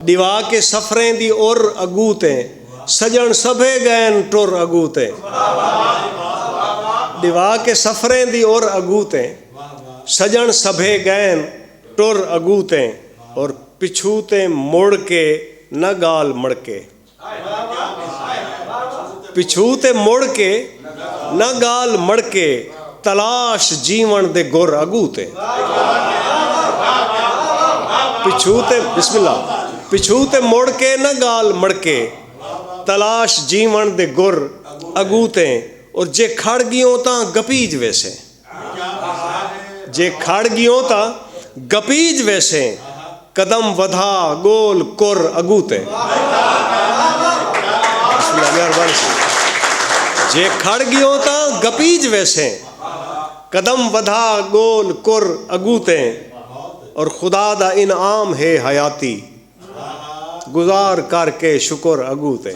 ڈیوا کے سفریں دی عر اگو تے سجن سبھے گئن ٹر اگو تے ڈیوا کے سفریں دی عر اگو تے سجن سبھے گئن ٹر اگو تے اور پچھو تے مڑ کے نہ گال مڑکے پچھو تے مڑ کے نہ گال مڑکے تلاش جیون دے گر اگو تے پچھو تے بسم اللہ پچھو تے مڑ کے نہ گال مڑکے تلاش جیون دے گر اگو تے اور جے کھڑ گیوں تاں گپیج ویسے جے کھڑ ڳیوں تاں گپیج ویسیں قدم ودھا ڳول کر اڳوں تے جے کھڑ ڳیوں تاں گپیج ویسیں قدم ودھا ڳول کر اڳوں تے اور خدا دا انعام ہے حیاتی گزار کر کے شکر اگوں تے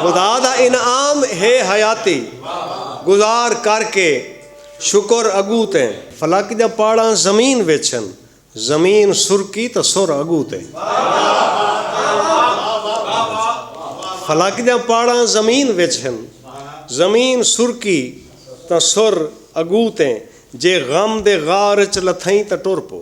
خدا دا انعام ہے حیاتی گزار کر کے شکر اگوں تے فلک جا پاڑاں زمین وچن زمین سرکی تا سر اگوں تے فلک جا پاڑاں زمین وچن زمین سرکی تا سر اگوں تے جے غم دے غار وچ لتھیں تا ٹر پو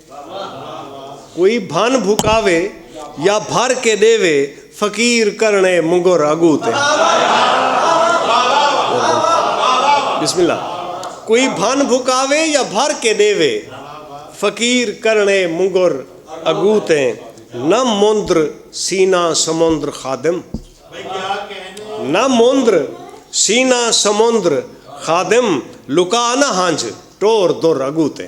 کوئی بھن بھکاوے یا بھر کے ݙیوے فقیر کرݨے منگر اڳوں تے بسم اللہ کوئی بھن بھکاوے یا بھر کے ݙیوے فقیر کرݨے منگر اڳوں تے نہ مندر سینہ سمندر خادم نہ مندر سینہ سمندر خادم لکا نہ ہنجھ ٹور در اڳوں تے